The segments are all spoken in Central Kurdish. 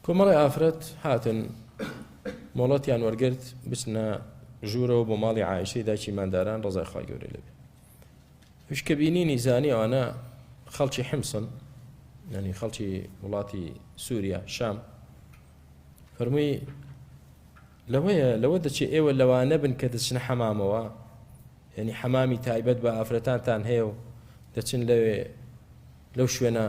کۆمەڵێ ئافرەت هاتن مۆڵەتیان وەرگرت بچنە ژوورەوە بۆ ماڵی عیشەی داکی ماداران ڕزای خخوای گەورە لەبێ وشکە بینینی زانی ئەوانە خەڵکی حمسن ینی خەڵکی وڵاتی سووریا شام فەرمووی لەوەیە لەوە دەچێ ئێوە لەوانە بن کە دەچنە حەمامەوە ینی حەمامی تایبەت بە ئافرەتانتان هەیە و دەچن لەوێ لەو شوێنە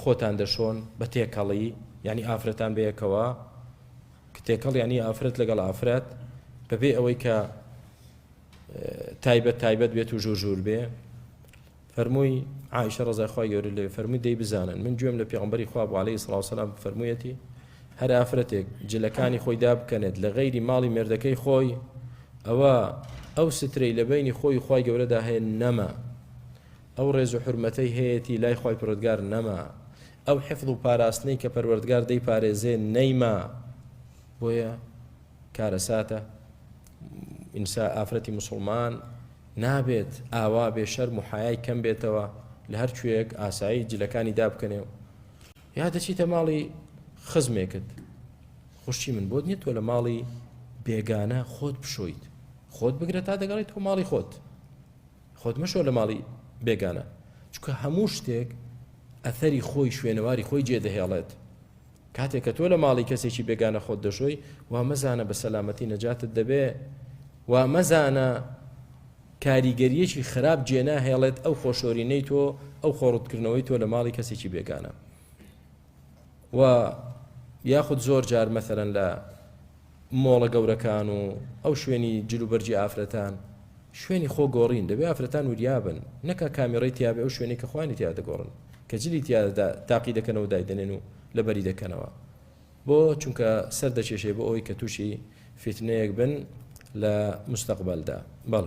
خۆتان دەشۆن بە تێکەڵی یانی ئافرەتان بەیەکەوە کە تێکەڵ یانی ئافرەت لەگەڵ ئافرەت بەبێ ئەوەی کە تایبەت تایبەت بێت و ژوور ژوور بێ فەرمووی عیشە ڕزایخوای گەورە لێ فەرمووی دەی بزانن من گوێم لە پێغمبەری خوا بۆ عليه سلااوسلام فەرموویەتی هەر ئافرەتێک جلەکانی خۆی دابکەنێت لە غەیری ماڵی مێردەکەی خۆی ئەوە ئەو سترەی لە بینی خۆی خی گەورەدا هەیە نەما ئەو ڕێز و حورمەتەی هەیەتی لای خوای پەروەردگار نەما، ئەو حفظ و پاراستنەی کە پەروەردگار دەیپارێزێ نەیما، بۆیە کارەساتە ئینسا ئافرەتی موسڵمان نابێت ئاوا بێ شەرم و حەیای کەم بێتەوە لە هەر کوێیەک ئاسایی جلەکانی دابکەنێ و یا دەچیتە ماڵی خزمێکت خوشتی من بۆت نیە تۆ لە ماڵی بێگانە خۆت بشۆیت خۆت بگرە تا دەگەڕێت تۆ ماڵی خۆت خۆت مەشۆ لە ماڵی بێگانە چونکە هەموو شتێک ئەثەری خۆی شوێنەواری خۆی جێدەهێڵێت کاتێک کە تۆ لە ماڵی کەسێکی بێگانە خۆت دەشۆی وا مەزانە بە سەلامەتی نەجاتت دەبێ وا مەزانە کاریگەریەکی خراپ جێناهێڵێت ئەو خۆشۆرینەی تۆ ئەو خۆڕوتکردنەوەی تۆ لە ماڵی کەسێکی بێگانە و یاخود زۆر جار مەسەلەن لە مۆڵە گەورەکان و ئەو شوێنی جلوبەرگی ئافرەتان شوێنی خۆ گۆڕین دەبێ ئافرەتان وریابن نەکا کامیڕی تیاێ ئەو شوێنی کە خوانی تیا دەگۆڕن کە جلی تیادا تاقی دەکەنەوە دایدەنێن و لەبەری دەکەنەوە بۆ چونکە سەر دەکێشێ بۆ ئەوی کە تووشی فیتنەیەک بن لە مستەقبلدا بەڵ